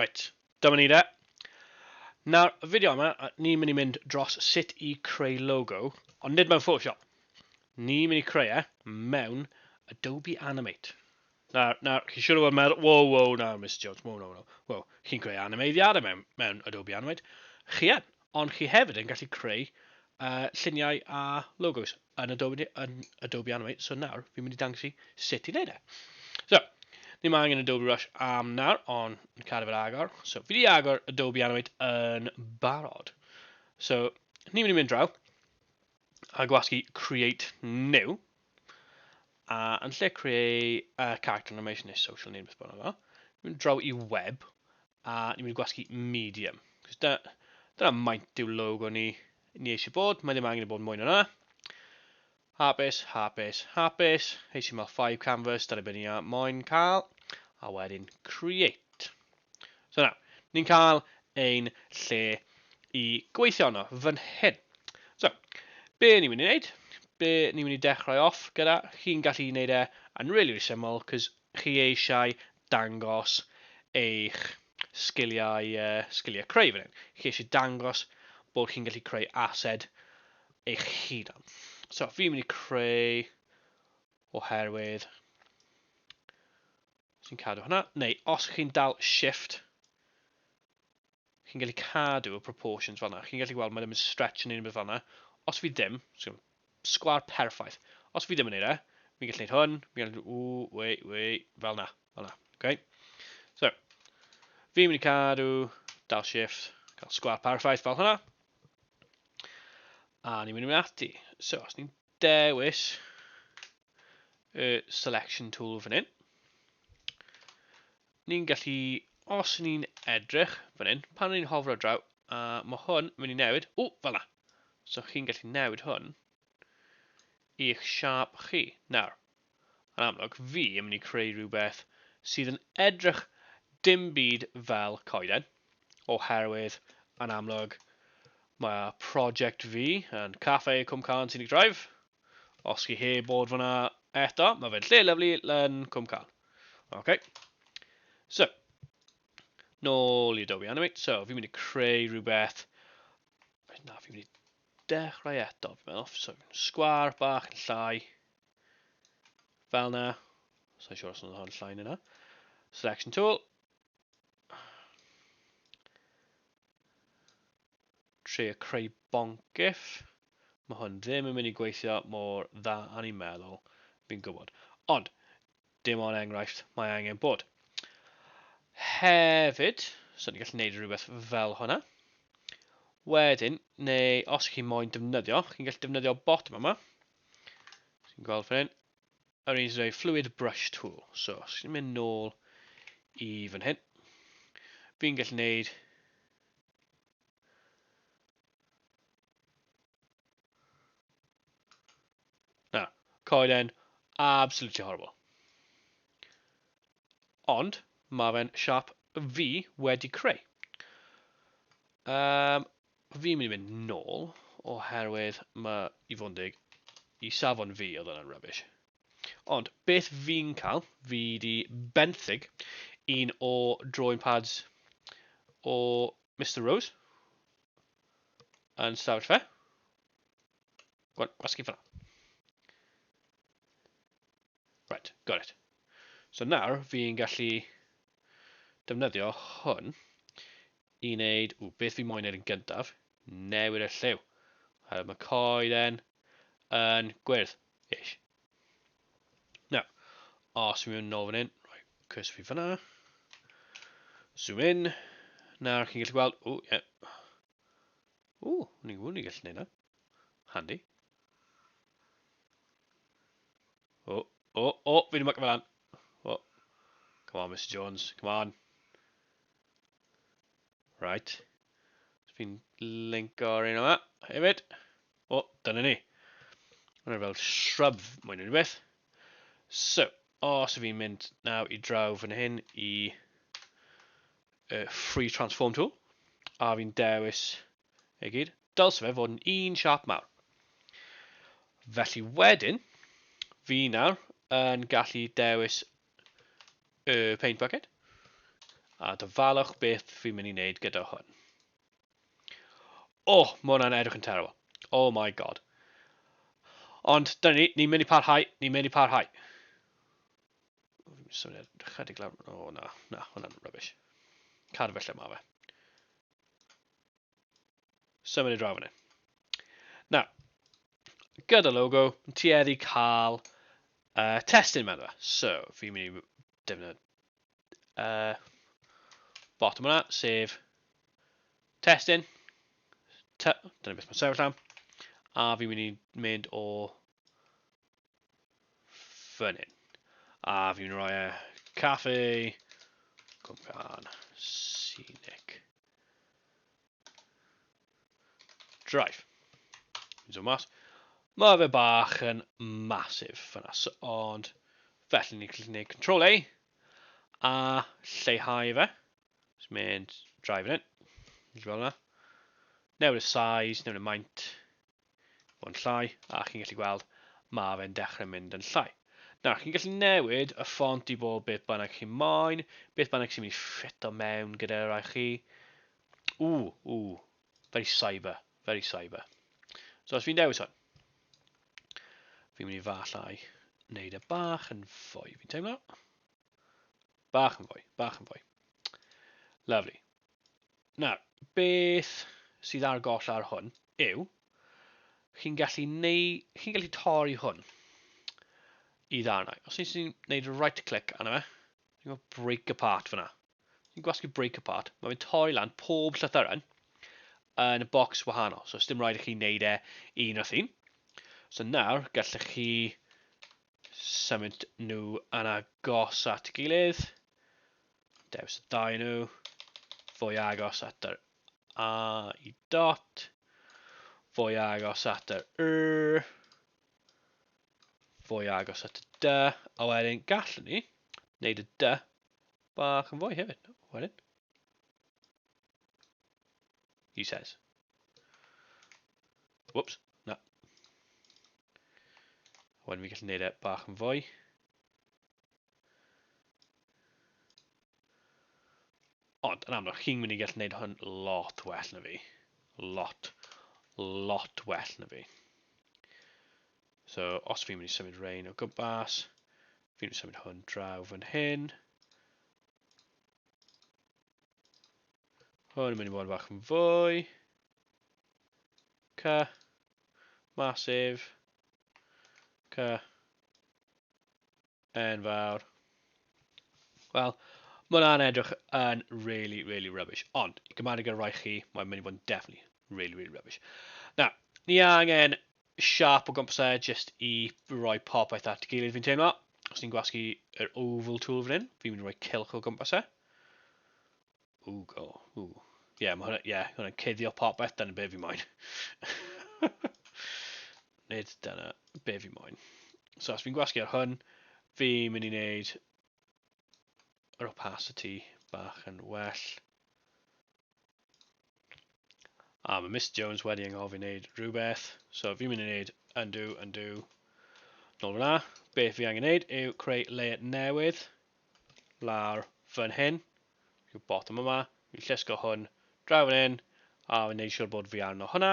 Right, dyma ni de. Nawr, y fideo yma, ni'n mynd i mynd dros sut i creu logo, ond nid mewn Photoshop. Ni'n mynd i creu e mewn Adobe Animate. Na, na, chi'n siŵr o fod yn meddwl, wow, wow, na, Miss Jones, wow, wow, wow, wow. Chi'n creu animeiddiadau mewn, mewn Adobe Animate. Chi yn, ond chi hefyd yn gallu creu uh, lluniau a logos yn Adobe, yn Adobe Animate. So nawr, fi'n mynd i dangos i sut i wneud e. So, ni mae angen Adobe Rush am nawr, ond yn cadw fel agor. So, fi wedi agor Adobe Animate yn barod. So, ni'n mynd i mynd draw. a gwasgu create new, a yn lle create uh, character animation neu social neu beth bynnag yma, ni'n mynd draw i web, a ni'n mynd i gwasgu medium. Cos da, dyna maint yw logo ni, ni eisiau bod, mae ddim angen i bod mwy na na. Hapus, hapus, hapus, HTML5 canvas, dyna beth ni moyn cael, a wedyn create. So nawr, ni'n cael ein lle i gweithio yno, fan hyn. So, be ni'n mynd i wneud? Be ni'n mynd i dechrau off gyda? Chi'n gallu wneud e yn really, really syml, cos chi eisiau dangos eich sgiliau, uh, sgiliau creu fan hyn. Chi eisiau dangos bod chi'n gallu creu ased eich hunan. So, fi'n mynd i creu oherwydd sy'n cadw hwnna, neu os chi'n dal shift, chi'n gallu cadw y proportions fanna. Chi'n gallu gweld mae ddim yn stretch yn unrhyw beth fanna. Os fi ddim, sgwar perffaith. Os fi ddim yn neud e, fi'n gallu neud hwn, fi'n gallu, o, we, we, fel na, fel na, okay? So, fi'n mynd i cadw, dal shift, cael sgwar perffaith fel hwnna. A ni'n mynd i mynd ati. So, os ni'n dewis, y selection tool fan hyn. Ni'n gallu, os ni'n edrych fan hyn, pan ni'n hofro draw, a mae hwn mynd i newid, o, fel na. So chi'n gallu newid hwn i'ch siap chi. Nawr, yn amlwg, fi yn mynd i creu rhywbeth sydd yn edrych dim byd fel coeden, oherwydd yn amlwg mae project fi yn Cafe Cwm Carn Scenic Drive, Os chi heb bod fyna eto, mae fe'n lle lyflu yn Cwm Cal. OK. So, nôl i Adobe Animate. So, fi'n mynd i creu rhywbeth. Na, fi'n mynd i dechrau eto. Fi'n meddwl, so, sgwar bach yn llai. Fel na. Sa'n siŵr os yna hon llai yna. Selection tool. trio creu bonc gif, mae hwn ddim yn mynd i gweithio mor dda a ni'n meddwl, fi'n gwybod. Ond, dim ond enghraifft, mae angen bod. Hefyd, so ni'n gallu gwneud rhywbeth fel hwnna. Wedyn, neu os chi'n moyn defnyddio, chi'n gallu defnyddio bot yma. Chi'n gweld fan hyn, yr un sy'n fluid brush tool. So, os chi'n mynd nôl i fan hyn, fi'n gallu gwneud Na, coeden absolutely horrible. Ond, mae fe'n siap fi wedi creu. Um, fi'n mynd i fynd nôl, oherwydd mae i fod yn deg, i safon fi oedd yna'n rubbish. Ond beth fi'n cael, fi di benthyg un o drawing pads o Mr Rose yn stafell fe. Gwan, gwasgu fyna. Right, got it. So nawr fi'n gallu defnyddio hwn i wneud, ww, beth fi moyn wneud yn gyntaf, newid y lliw. Mae coed yn gwyrdd. Ish. Nawr, os fi'n mynd nôl fan hyn, rhoi cwrs fi fyna. Zoom in. Nawr chi'n gallu gweld, o, ie. Yeah. O, ni'n gwybod ni'n gallu gwneud na. Handy. O, o, o, fi ddim yn fel lan. O, come on, Mr Jones, come on. Right. Fi'n linko ar un yma, hefyd. O, dyna ni. Mae'n fel shrub mwy na rhywbeth. So, os so fi'n mynd naw i draw fan hyn i uh, free transform tool, a fi'n dewis ei gyd, dylse fe fod yn un siap mawr. Felly wedyn, fi nawr yn gallu dewis y paint bucket a dyfalwch beth fi'n mynd i wneud gyda hwn. O, oh, mae hwnna'n edrych yn terrible. Oh my god. Ond, dyna ni, ni'n mynd i parhau, ni'n mynd i parhau. Swnio chydig lawr, o oh, na, na, hwnna'n rubbish. Cadw fe lle mae fe. So mynd i draw fan hyn. Na, gyda logo, yn tueddu cael uh, testyn mewn fe. So, fi'n mynd i defnyddio uh, bottom hwnna, sef testyn. Dyna beth mae'n sefyll am. A fi'n mynd i mynd o fan hyn. A fi'n rhoi e caffe cwmpan scenic. Drive. Fi'n dod mas. Mae fe bach yn masif fyna, so, ond felly ni'n gallu gwneud control A a lleihau fe. Just mynd drive yn hyn. Fel yna. Newid y size, newid y maint. fod yn llai, a chi'n gallu gweld mae fe'n dechrau mynd yn llai. Nawr, chi'n gallu newid y ffont i bod beth bynnag chi'n moyn, beth bynnag sy'n mynd i ffit o mewn gyda'r rai chi. Ww, ww, very cyber, very cyber. So os fi'n dewis hwn, fi'n mynd i fallai wneud y e bach yn fwy, fi'n teimlo. Bach yn fwy, bach yn fwy. Lovely. Nawr, beth sydd ar goll ar hwn yw, chi'n gallu, neu, chi'n gallu torri hwn i ddarnau. Os ni'n gwneud right click arno fe, ni'n gwneud break apart fyna. Ni'n gwasgu break apart, mae fe'n torri lan pob llythyren yn y bocs wahanol. So, dim rhaid i chi wneud e un wrth un. So nawr, gallech chi symud nhw yn agos at gilydd. Dewis y dau nhw. Fwy agos at yr A i dot. Fwy agos at yr R. Fwy agos at y D. A wedyn gallwn ni wneud y D bach yn fwy hefyd. Wedyn. He says. Whoops. Wedyn fi gallu gwneud e bach yn fwy. Ond, yn amlwg, chi'n mynd i gallu gwneud hwn lot well na fi. Lot, lot well na fi. So, os fi'n mynd i symud rain o gwmpas, fi'n mynd i symud hwn draw fan hyn. Hwn yn mynd i fod yn fach yn fwy. Ca. Massive. Ca. Enfawr. Wel, mae hwnna'n edrych yn really, really rubbish. Ond, i gymaru gyda rai chi, mae'n mynd i fod yn definitely really, really rubbish. Na, ni angen siap o gwmpas e, just i roi popeth at gilydd fi'n teimlo. Os ni'n gwasgu yr oval tool fan hyn, fi'n mynd i roi cilch o gwmpas e. Ooh, go. Ooh. Yeah, mae hwnna, yeah, hwnna'n cuddio popeth, dyna be fi moyn. Nid dyna be fi moyn. So, os fi'n gwasgu ar hwn, fi'n mynd i wneud yr opacity bach yn well. A mae Miss Jones wedi anghofio wneud rhywbeth. So fi'n mynd i wneud undo, undo. Nôl fyna. Beth fi angen wneud yw creu layer newydd. Lawr fan hyn. Rhyw botwm yma, fi'n llusgo hwn draw fan hyn, a fi'n neud siwr bod fi arno hwnna.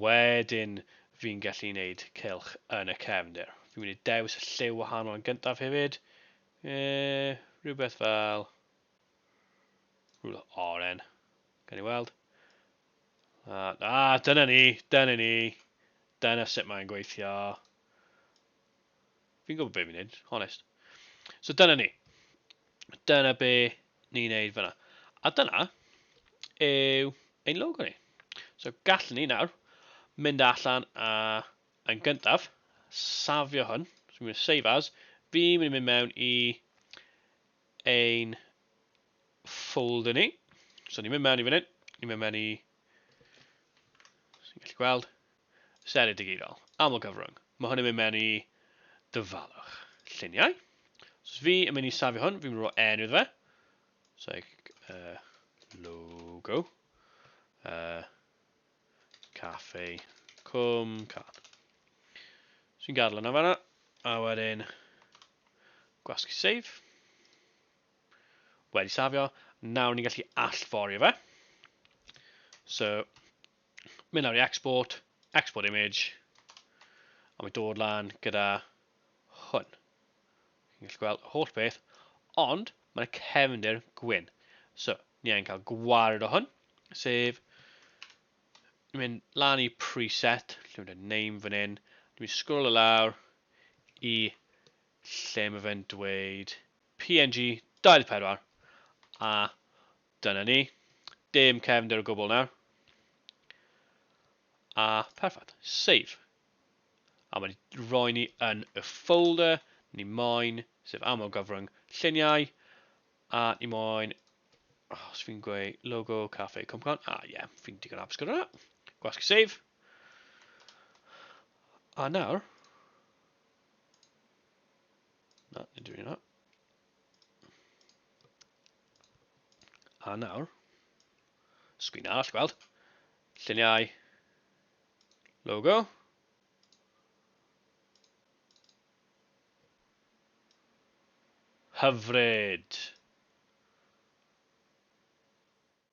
Wedyn, fi'n gallu neud cylch yn y cefndir. Fi'n mynd i dewis y lliw wahanol yn gyntaf hefyd. E, rhywbeth fel... Rhywbeth oren. Gan i weld. A, a dyna ni, dyna ni. Dyna sut mae'n gweithio. Fi'n gwybod beth fi'n neud, honest. So dyna ni. Dyna be ni'n neud fyna. A dyna yw ein logo ni. So gallwn ni nawr mynd allan a yn gyntaf safio hwn. So fi'n mynd save as. Fi'n mynd i mynd mewn i ein folder ni. So ni'n mynd mewn i fan hyn. Ni'n mynd mewn i... Ni'n gallu gweld. Senedd Digidol, aml gyfrwng. Mae hwn yn mynd mewn i dyfalwch lluniau. So fi yn mynd i safio hwn, fi'n mynd i roi enw iddo fe. So, uh, logo. Uh, cafe Cwm Can. So fi'n gadael yna fanna. A wedyn, gwasgu save. Wedi safio. Nawr ni'n gallu allforio fe. So, mynd lawr i export, export image, a mae dod lan gyda hwn. Chi'n gallu gweld y holl beth, ond mae yna cefndir gwyn. So, ni angen cael gwared o hwn, sef, ni'n mynd lan i preset, lle mae'n dweud name fan hyn, ni'n mynd sgrol y lawr i lle mae fe'n dweud PNG 24, a Dyna ni. Dim cefndir o gwbl nawr. A perffaith. Save. A mae wedi rhoi ni yn y folder ni moyn, sef aml gyfrwng lluniau, a ni moyn, oh, os fi'n gweud logo, cafe, cwmcon, a ie, yeah, fi'n digon apus gyda hwnna. Gwasgu save. A nawr, na, nid yw'n hwnna. A nawr, sgwyn all gweld, lluniau, logo, hyfryd.